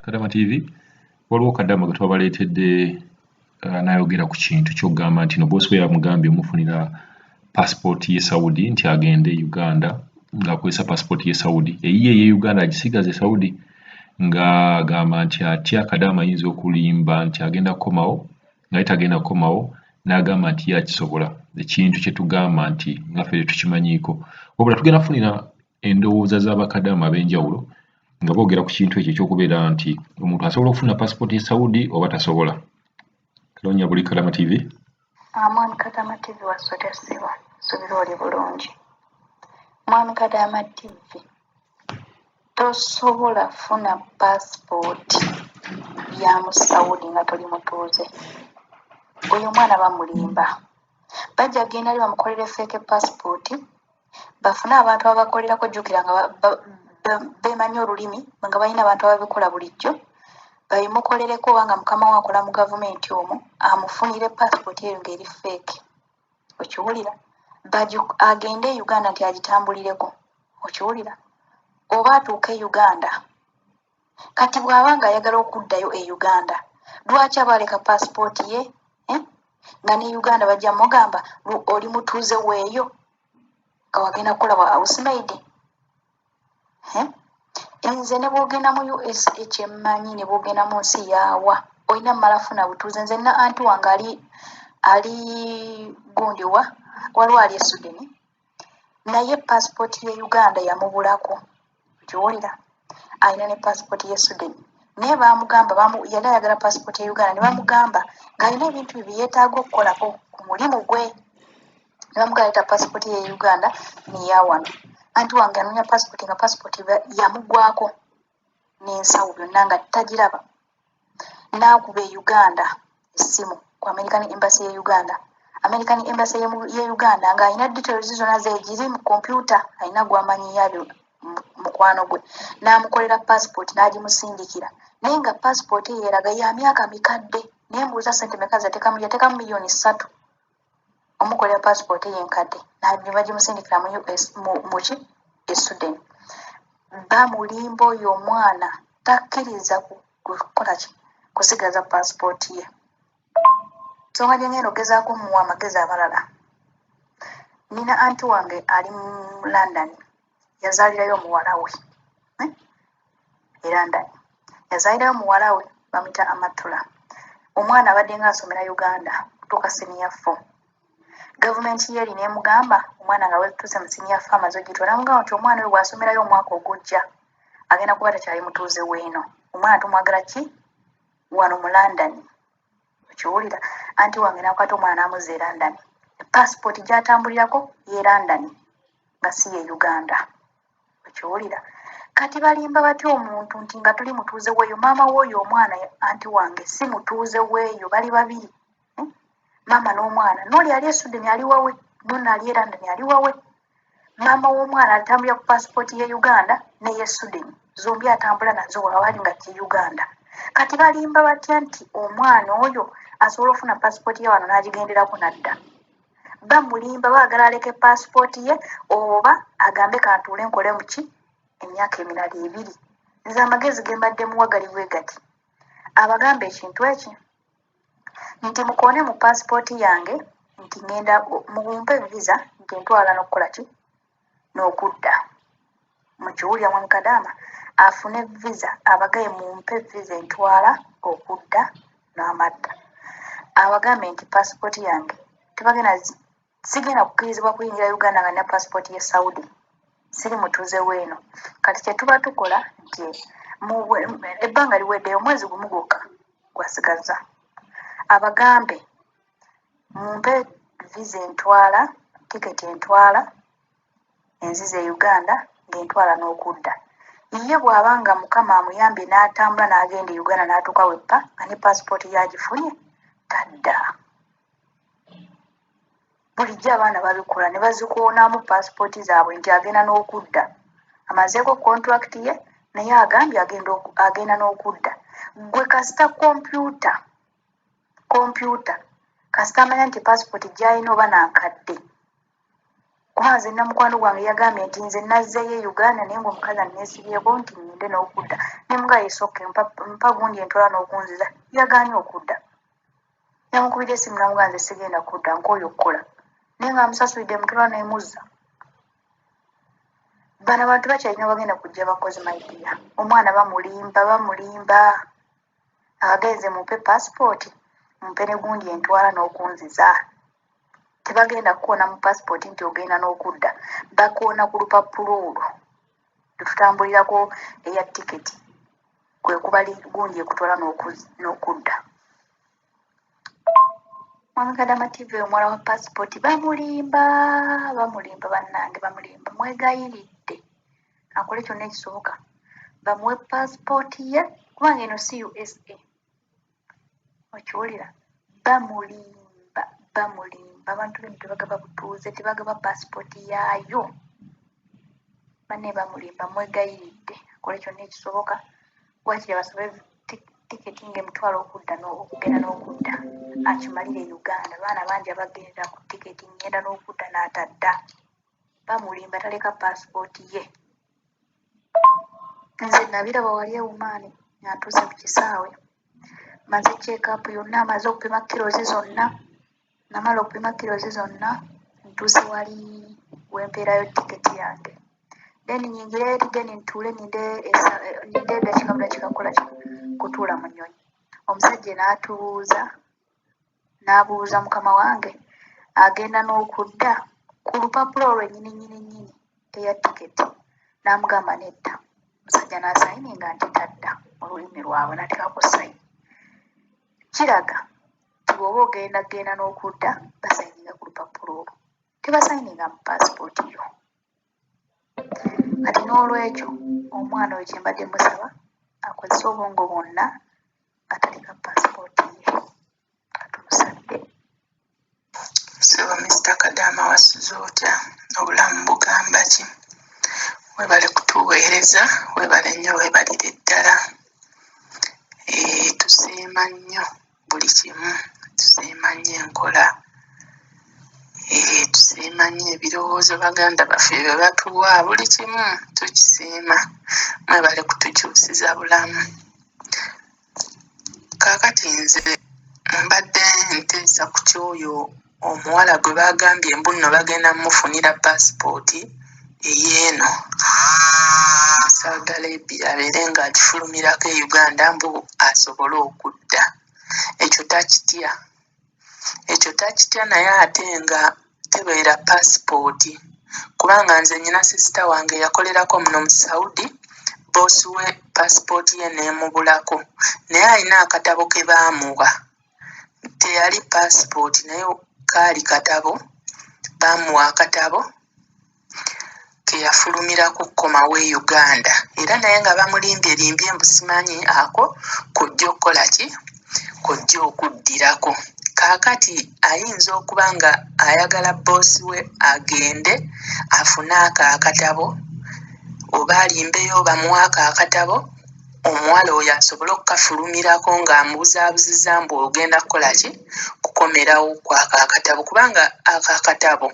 kadama tv waliwo kadama gwe twabaleetedde uh, nayogera ku kintu kyokugamba nti no bosi we yamugambye omufunira pasipooti ye saudi nti agende e uganda ng'akozesa pasipooti ye saudi eyiye eye uganda agisigaza e saudi nga agamba nti atya kadama ayinza okulimba nti agenda kukomawo naye tagenda kukomawo n'agamba nti ye akisobola ekintu kye tugamba nti ngaffe tetukimanyiiko wabula tugenda kufunira endowooza za bakadaama ab'enjawulo nga boogera ku kintu ekyo ekyokubeera nti omuntu asobola okufuna pasipooti e saudi oba tasobola loonya buli kadama tv amwami kadama tv wasota siba subira oli bulungi mwami kadama tv tosobola funa pasipooti ya mu saudi nga toli mutuuze oyo omwana bamulimba bajja genda li bamukolere feeke pasipooti bafune abantu ababakolerako jjukira nga bemanyi olulimi nga balina abantu ababikola bulijjo babimukolereko obanga mukama we akola mu gavumenti omu amufunire passport eyo ngaeri feeke okiwulira agende e uganda nti agitambulireko okiwulira oba atuuka e uganda Kati bwaba nga ayagala okuddayo e Uganda lwaki aba aleka passport ye eh? nga ne Uganda bajja mugamba oli mutuuze weeyo nga wagenda kukola bwa housemaide eh? nze ne bwogenda mu usa kyemmanyi ne bwogenda mu nsi yaawa olina mumala funa butuuze nze na anti wange ali ali gundiwa waliwo ali esudeni naye passport ye uganda yamubulako okiwulira alina ne passport ye suden naye bamugamba yali ayagala passport ye uganda nebamugamba ngalina ebintu bye byeyetaaga okukolako ku mulimu gwe nebamugamba leta passport ye uganda neyawano anti wange anonya passport nga passport yamugwako n'ensawo byonna nga tagiraba n'akuba e uganda essimu ku american embassy ye uganda american embassy ye uganda ng'alina details zonna zegiri mu kompyuta alina gwamanyi yabyo mukwano gwe n'amukolera passport n'agimusindikira naye nga passport eyo eraga ya myaka mikadde naye mbuuza sente meka zatekamu yatekamu miliyoni ssatu omukolera pasipooti ye enkadde ne bagimusindikira mu us muki e suden bamulimba oyo omwana takkiriza kukola ki kusigaza pasipooti ye nsonga gye ngenda ogezaako muwa amagezi abalala nina anti wange ali mu london yazaalirayo omuwala we eh? era ndani yazaalirayo omuwala we bamuyita amatula omwana abadde nga asomera uganda tuuka siniya fo gavumenti ye erina emugamba omwana nga wetuuse mu siniya fo amaze ogitwa namugamba nti omwana oyo bwasomerayo omwaka ogujja agenda kuba takyali mutuuze weeno omwana tumwagala ki wano mu london okiwulira anti wange nakwata omwana namuza erandani passport gyatambulirako yerandani nga si ye uganda okiwulira kati balimba batya omuntu nti nga tuli mutuuze weeyo maama wooyo omwana anti wange si mutuuze weeyo bali babiri hmm? maama n'omwana noli ali esudeni ali wawe nona ali erandani ali wawe maama w'omwana atambulira ku paasipooti ye uganda neye sudeni zombi atambula nazo wawaali nga kye uganda kati balimba batya nti omwana oyo asobola okufuna paasipooti ye wano n'agigenderako nadda bamulimba baagala aleke paasipooti ye oba agambe kantuule nkole muki emyaka emirala ebiri nze amagezi ge mbadde muwagali bwe gati abagamba ekintu eki nti mukoone mu paasipooti yange nti ŋenda mumpe visa nti ntwala n'okukola ki n'okudda mukiwulira mwe mukadaama afune visa abagaye mumpe visa entwala okudda n'amadda abagambe nti paasipooti yange tebagenda Sigenda kukkirizibwa kuyingira Uganda nga nina passport ye Saudi. Siri mutuuze weeno. Kati kyetuba tukola nti ebbanga liweddeyo omwezi gumu gwokka gwasigazza. Abagambe mumpe visa entwala, ticket entwala enzize e Uganda ng'entwala n'okudda. Ye bw'aba nga Mukama amuyambye n'atambula n'agenda e Uganda n'atuuka weppa nga ne passport ye agifunye tadda. bulijjo abaana babikola ne bazikoonamu paasipooti zaabwe nti agenda n'okudda amazeeko kontulakiti ye naye agambye agenda n'okudda gwe kasita kompyuta kompyuta kasita amanya nti paasipooti gyalina oba nankadde kuba nze namukwano gwange yagambye nti nze nazzeyo e uganda naye ngaomukazi anesibyeko nti ngende n'okudda nemuga yesoke mpa gundi entwala n'okunziza yagaanye okudda Namukubidde essimu namugamba nze sigenda kudda nkooye okukola naye nga amusasulidde mutula nemuzza bano abantu bakyalina abagenda kujja bakozi maidiya omwana bamulimba bamulimba abagenze mumpe pasipooti mumpe ne gundi entwala n'okunziza tebagenda kukoona mu pasipooti nti ogenda n'okudda bakoona ku lupapula olwo lwetutambulirako eya tiketi kwe kubali gundi ekutwala n'okudda Mwamugadama TV omwala wa passport bamulimba bamulimba bannange bamulimba mwegayiridde akole kyonna ekisoboka bamuwe passport ye kubanga eno si usa okiwulira bamulimba bamulimba abantu bino tebagaba butuuze tebagaba pasipooti yaayo banne bamulimba mwegayiridde akole kyonna ekisoboka wakiri basobe tiketi ngaemitwalo okudda okugenda n'okudda akimalire e uganda baana bangi abagenda ku tiketi ngenda n'okudda n'atadda bamulimba taleka pasipooti ye nze nabiraba wali ewumaani ng'atuuse ku kisaawe maze kyekaapu yonna amaze okupima kirozi zonna namala okupima kirozi zonna ntuuse wali wempeerayo tiketi yange then nyingire eri then ntuule ninde edakikamula kikakola kutuula mu nyonyi omusajja naatubuuza n'abuuza mukama wange agenda n'okudda ku lupapula olwo ennyini nnyini nnyini eya tiketi n'amugamba nedda musajja n'asayini nga nti tadda olulimi lwabwe nateeka ku sayini kiraga nti bw'oba ogenda genda n'okudda basayininga ku lupapula olwo tebasayininga mu paasipooti yo Kati n'olwekyo omwana oyo kye mbadde musaba akozese obwongo bwonna nga taleka paasipooti ye nga tumusabire. Ssebo Mister Kadaama wasuze otya? Obulamu bugamba ki? Weebale kutuweereza, weebale nnyo weebalire ddala. Eeh tusiima nnyo. buli kimu tusiima nnyo enkola tusiima nnyo ebirowoozo baganda baffe bye batuwa buli kimu tukisiima mwebale kutukyusiza bulamu kaakati nze mbadde nteesa ku kyoyo omuwala gwe baagambye mbu nno bagenda mumufunira paasipooti eyeeno saudi arabia abeere ng'agifulumirako e uganda mbu asobole okudda ekyo takitya ekyo takitya naye ate nga tebeera paasipooti kubanga nze nyina sisita wange yakolerako muno mu saudi boosi we paasipooti ye n'emubulako naye alina akatabo ke baamuwa teyali passport naye kaali katabo baamuwa akatabo keyafulumirako okukomawo e uganda era naye nga bamulimbyelimbye mbu simanyi ako kojja okukola ki kojja okuddirako kaakati ayinza okuba nga ayagala bboosi we agende afune ako akatabo oba alimbeyo bamuwaako akatabo omuwala oyo asobole okukafulumirako ng'amubuzaabuziza mbu ogenda kukola ki kukomerawo kwako akatabo kubanga ako akatabo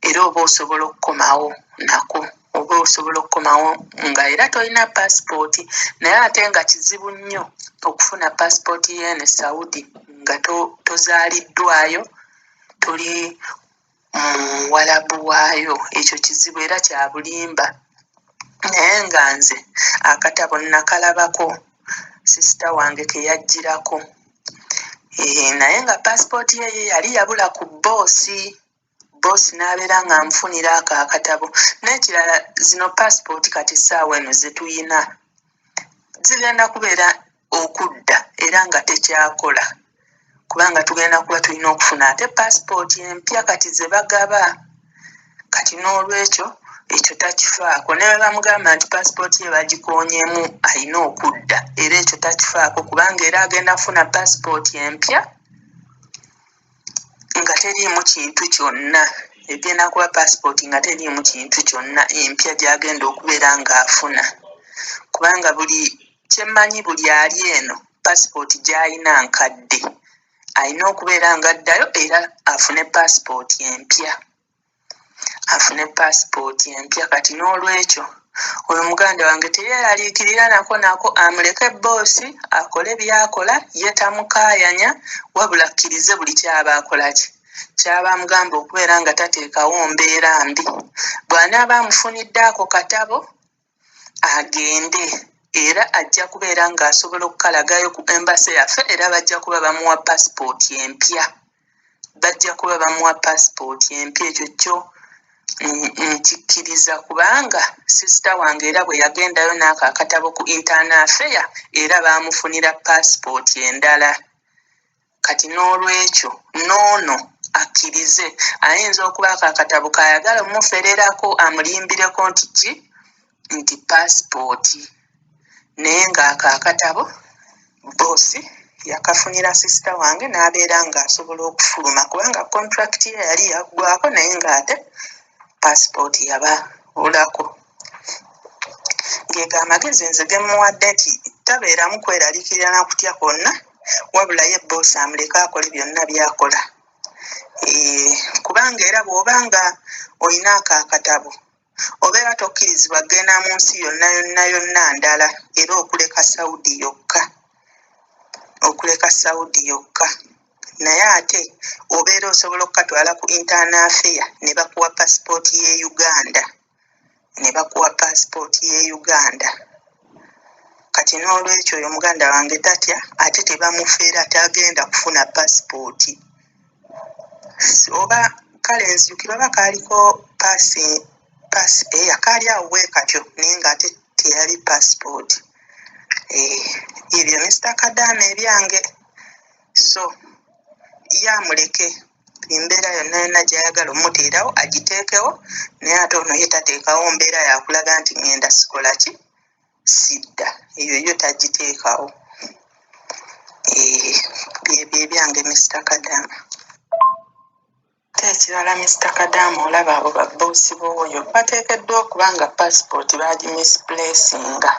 era oba osobola okukomawo nako oba osobola okukomawo nga era tolina paasipooti naye ate nga kizibu nnyo okufuna paasipooti yeene saudi nga tozaaliddwayo toli muwalabu waayo ekyo kizibu era kyabulimba naye nga nze akatabo nakalabako sisita wange keyajjirako eh, naye nga pasipooti yeye yali yabula ku boosi boosi nabeera nga nfunira ako akatabo nekirala zino pasipooti kati saawa eno zetuyina zigenda kubeera okudda era nga tekyakola kubanga tugenda kuba tulina okufuna ate pasipooti empya kati ze bagaba kati n'olwekyo ekyo takifaako ne bwe bamugamba nti pasipooti ye bagikoonyemu alina okudda era ekyo takifaako kubanga era agenda kufuna pasipooti empya nga teriimu kintu kyonna egenda kuba pasipooti nga teriimu kintu kyonna empya gy'agenda okubeera ng'afuna kubanga buli Kyemmanyi buli ali eno passport gyalina nkadde alina okubeera nga addayo era afune passport empya afune passport empya kati n'olwekyo oyo muganda wange teyeraliikirira nako nako amuleke bboosi akole byakola ye tamukaayanya wabula akkirize buli kyaba akolaki kyaba amugamba okubeera nga tateekawo mbeera mbi bw'anaaba amufunidde ako katabo agende era ajja kubeera ng'asobola okukalagayo ku embase yaffe era bajja kuba bamuwa pasipooti empya bajja kuba bamuwa pasipooti empya ekyo kyo nkikkiriza kubanga sisita wange era bwe yagendayo n'ako akatabo ku intaana afeya era baamufunira pasipooti endala Kati n'olwekyo n'ono akkirize ayinza okubaako akatabo k'ayagala omumufererako amulimbireko nti ki, nti paasipooti naye ng'ako akatabo bboosi yakafunira sisita wange n'abeera ng'asobola okufuluma kubanga kontulakiti ye yali yaggwaako naye ng'ate paasipooti yabaulako. Gego amagezi nze ge mmuwadde nti tabeeramu kweraliikirira na kutya kwonna wabula ye bboosi amuleke akole byonna by'akola eeh, kubanga era bw'oba nga olina ako akatabo obeera tokkirizibwa kugenda mu nsi yonna yonna yonna ndala era okuleka Saudi yokka okuleka Saudi yokka naye ate obeera osobola okukatwala ku Internal Affair ne bakuwa paasipooti y'e Uganda. ne bakuwa paasipooti y'e uganda kati n'olwekyo oyo muganda wange tatya ate tebamufeera tagenda kufuna paasipooti oba kale nzijukira oba kaaliko paasi paasi eya eh, kaali awo bwe katyo naye ng'ate teyali paasipooti eh, ebyo misita kadaama ebyange so yamuleke embeera yonna yonna gyayagala omuteerawo agiteekewo naye ate ono ye tateekawo mbeera yakulaga nti ŋŋenda sikola ki sidda eyo yo tagiteekawo eh, byebyo ebyange mister kadaama ate ekirala mister kadaama olaba abo babboosi booyo bateekeddwa okuba nga paasipooti baagimisplacinga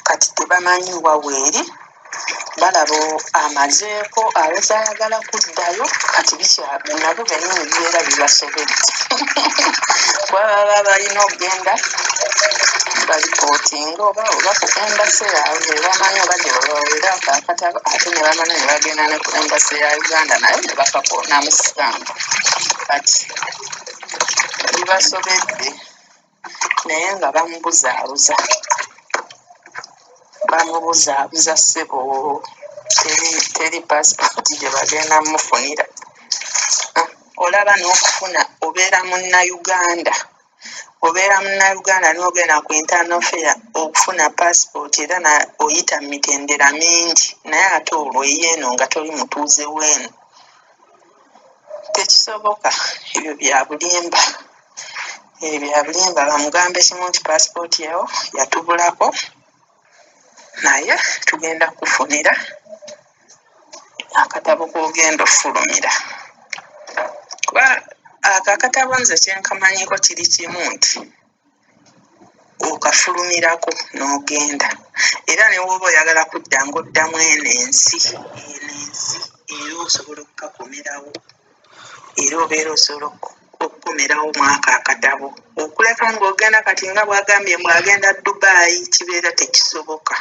kati tebamanyi wa weeri balaba amazeeko aweza ayagala kuddayo kati bikyabe nabo benyini bibeera bibasobedde kuba baba balina okugenda balipootinga oba oba ku embase yaabwe bebamanyi oba gyebabawera akakatabo ate ne bamanya ne bagenda ne ku embase ya uganda naye ne bakakonamu sitampu kati bibasobedde naye nga bamubuzaabuza bamubuzaabuza ssebo teri teri pasipoti gye bagenda mufunira Ah, olaba n'okufuna obeera munnayuganda obeera munnayuganda n'ogenda ku internal fair okufuna pasipoti era na oyita mu mitendera mingi naye ate olwo eyeeno nga toli mutuuze weeno tekisoboka ebyo bya bulimba ebyo byabulimba bamugambe kimu nti passport yawo yatubulako naye tugenda kufunira akatabo kogenda ofulumira kuba ako akatabo nze kyenkamanyiko kiri kimu nti okafulumirako n'ogenda era newooba oyagala kudda ngaoddamu eno ensi eno ensi era osobola okukakomerawo era obeera osobola okukomerawo mwaka akatabo okuleka ng'ogenda kati nga bwagambye mbu agenda dubaayi kibeera tekisoboka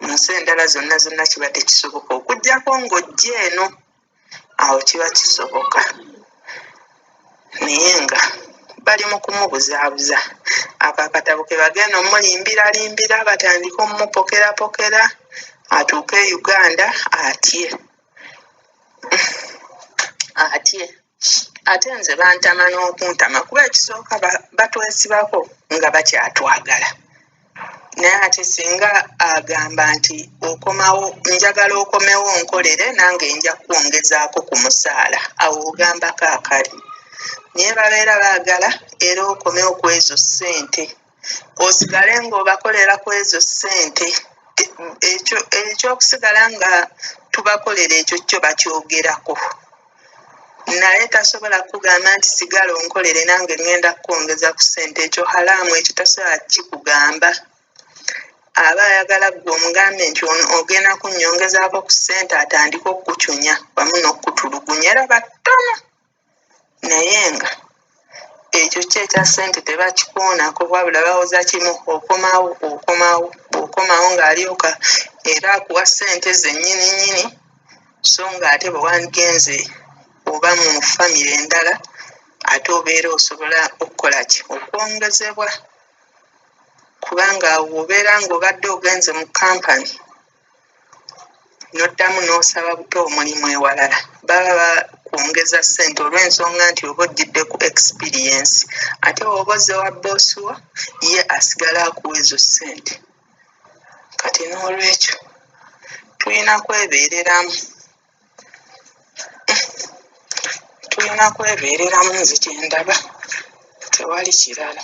mu nsi endala zonna zonna kiba tekisoboka okugyako ng'ojja eno awo kiba kisoboka naye nga bali mu kumubuzaabuza ako akatabo ke bagenda omulimbiralimbira batandike omumupokerapokera atuuke e uganda atye atye ate nze bantama n'okuntama kuba ekisooka batwesibako nga bakyatwagala naye ate singa agamba nti okomawo njagala okomewo nkolere nange nja kwongezaako ku musaala awo ogambako akali naye babeera baagala era okomewo ku ezo ssente osigale ng'obakolera ku ezo ssente ekyo ekyokusigala nga tubakolera ekyo kyo bakyogerako naye tasobola kugamba nti sigala onkolere nange ngenda kukwongeza ku ssente ekyo halaamu ekyo tasobola kikugamba aba ayagala gwe omugambe nti ogenda kunyongezaako ku ssente atandike okukucunya wamu n'okukutulugunya era battono naye nga ekyo kyo ekya ssente tebakikoonako wabula bawoza kimu okomawo okomawo bw'okomawo ng'alyoka era akuwa ssente zennyininyini so ng'ate bwe wandigenze oba mu famire endala ate obeera osobola okukola ki okwongezebwa kubanga awo obeera ng'obadde ogenze mu kampani. n'oddamu n'osaba buto omulimu ewalala. Baba bakwongeza ssente olw'ensonga nti oba ojjidde ku ekisipiriyensi. Ate bw'oba ozze wa bboosi wo, ye asigala akuwa ezo ssente. Kati noolwekyo tulina kwebeereramu, tulina kwebeereramu nze kye ndaba, tewali kirala.